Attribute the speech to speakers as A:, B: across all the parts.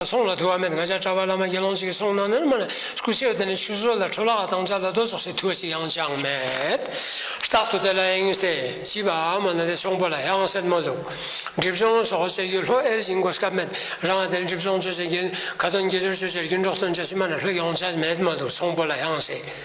A: སོང་ལ་དུ་བ་མེད་ང་ཅག་གྲྭ་པ་བླ་མ་དགེ་སློང་གཅིག་གིས་སོང་ན་ནོར་མ་ལ་སྐུ་ཕྱེ་བ་དེ་ནས་ཆུ་ཟོས་ལ་ཁྲོ་ལག་དང་ལྕགས་ལ་རྡོ་ཟོག་སའི་དུ་བ་ཞིག་ཡང་ཅང་མེད། རྟག་ཏུ་དེ་ལ་ཨེ་ངེས་ཏེ་བྱིས་པ་ཨ་མ་ནི་དེ་ཆུང་པོ་ལ་ཧྱང་སེར་མོ་འདུག་སྒྲིབ་སྦྱོང་ལ་སོགས་བྱེད་རྒྱུ་ལྷོད་ཨེར་བྱིན་གོ་སྐབས་མེད་རང་ཨ་དེར་སྒྲིབ་སྦྱོང་བྱོས་བྱེད་རྒྱུན་ག་དོན་དགེ་སྦྱོར་བྱོས་བྱེད་རྒྱུན་འགྲོགས་སྟོན་བྱ་ཕྱི་མ་ན་ལྷོད་ཡོང་བྱ་མེད་མ་འདུག་ཆུང་པོ་ལ་ཧྱང་སེ།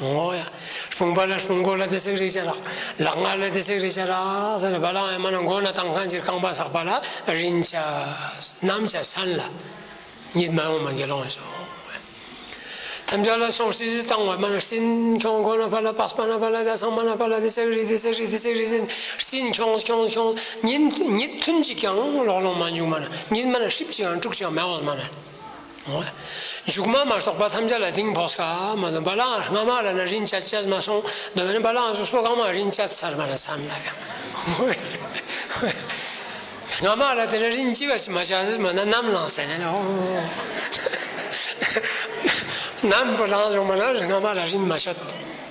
A: ངོ། ཕུང་པོ་ལ་ཕུང་པོ་ལ་དེ་སྲེག་རེག་བྱ་རག། ལག་ངར་ལ་དེ་སྲེག་རེག་བྱ་རག་ས་ནི་བ་ལང་ཨེ་མ་ན་མགོ་ན་དང་ཁ་འབྱེར་རྐང་པ་ཟག་པ་ལ་རིན་བྱ། གནམ་བྱ་སྲན་ལ། ཉིད་མ་ཡོངས་མ་དགེ་སློང་གསོལ། ཐམས་ཅད་ལ་སོགས་སྲིད་ཞི་དང་བ་མ་ན་སྲིན་ཁྱོང་ཁོ་ན་བ་ལ་པགས་པ་ན་བ་ལ་དེ་ཚང་མ་ན་བ་ལ་དེ་སྲེག་རེག་དེ་སྲེག་རེག་དེ་སྲེག་རེག་བྱ་ནི་སྲིན་ཁྱོང་ཁྱོང་ཁྱོང། ཉིད་ཐུན་གཅིག་ཀྱང་ལོག་ལོང་མ་འཇུག་མ་ན་ཉིད་མ་ན་ཧྲིབ་ཅིག་ཨང་དཀྲུགས་ཅིག་ཨང་མེ་འོལ་མ་ན། མཇུག་མ་མ་སོགས་པ་ཐམས་ཅད་ལ་དིང་བོགས་སྐ་མ་ལ་འབའ་ལའང་སྔ་མ་ལ་ན་རིན་བཅའ་བཅས་མ་སོང་དོན་མེད་ན་འབའ་ལའང་སོ་སོ་གང་མང་རིན་བཅའ་ཚར་མ་ལ་བསམ་ལ་ཡང། སྔ་མ་ལ་དེ་ན་རིན་བཅས་པ་མ་བྱ་མ་ན་ནམ་ལངས་ཟེར་ན་ནམ་བུ་ལངས་བྱུང་མ་ན་སྔ་མ་ལ་རིན་མ་བྱ།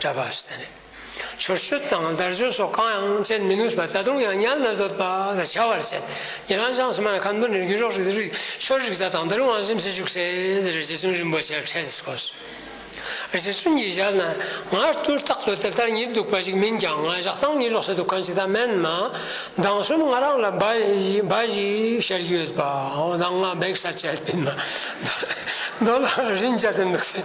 A: གྲྭ་པ་ཟེར་ནས་ཆོས་སྤྱོད་དང་བརྡར་སྤྱོད་སོགས་གང་ཡང་སྤྱད་མི་ནུས་པ་ད་དུང་ཡང་ཉལ་ན་བཟོད་པ་ལ་བྱ་བར་བྱེད། ཉེ་ལམ་ལྕང་སྲི་མ་ལ་ཁམས་སྡོད་ནས་རྒྱུན་རོགས་རིག་རིག་ཆོས་རིག་གཟའ་དང་འདིར་དབང་བཞིན་བྱེད་བཅུག་ཟེར་ཟེར་རྗེ་བཙུན་རིན་པོ་ཆེ་ཁྲེལ་བསྐོར་བྱས། རྗེ་བཙུན་གྱིས་ཞབས་ན་ངར་ལྟོས་རྟག་ཏུ་དེ་ལྟར་ཉིད་འདུག་པ་ཞིག་མིན་ཀྱང་ང་བཞག་སྟངས་གཉིད་ལོག་སའི་འདུ་ཁང་ཞིག་དང་མན་མ་མདང་གསུམ་ང་རང་ལ་འབའ་འབའ་ཞིག་ཤར་གྱི་ཡོད་པ་ནང་ང་འབེགས་ས་བཅད་པིན་མ་མདོ་ལ་རིན་བཅའ་དེ་འདུག་ཟེར།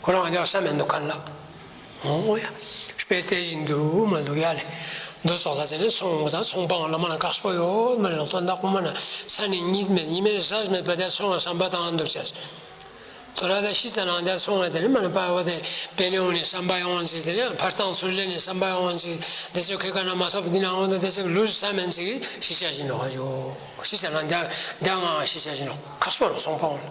A: ཁོ་རང་ཀྱང་བསམ་མི་འདུག་ག་ལ། འོ་ཡ། དཔེ་བལྟས་བཞིན་དུ་འུར་མ་འདུག་ཡ་ལེ། རྡོ་སོགས་ལ་ཟེར་ནས་ཚོང་དངུལ་དང་ཚོང་དཔང་བླ་མ་ལ་བཀག་སྤོ་ཡོད་མ་རེད་ལོག་རྟོག་འདག་པོ་མ་ན་ས་ནས་གཉིད་མེད་གཉིད་མེད་ཟ་མེད་བལ་བལྟས་ཚོང་བ་བསམ་པ་དང་འདུག་བྱས། དོ་ར་དང་ཤི་ཚ་ནང་བལྟས་ཚོང་བ་དེ་ནི་མ་ན་པ་བ་དེ་བལ་ལེའུ་ནས་བསམ་པ་ཡོང་ཚིག་དེ་ནི་འཕར་ཐང་ཚུར་ལེན་ནས་བསམ་པ་ཡོང་ཚིག་འདི་ཚོ་ཁེ་ག་ན་མ་ཐོབ་འདི་ནང་བོ་ན་འདི་ཚོ་ལུས་སུ་ཟ་མེད་ཚིག་གཞི་ཆ་བཞིན་ནོ་ཤི་ཚ་ནང་བལྟས་བལྟས་ངང་གཞི་ཆ་བཞིན་ནོ་ཁ་སོ་ལ་ཚོང་དཔང་བླ།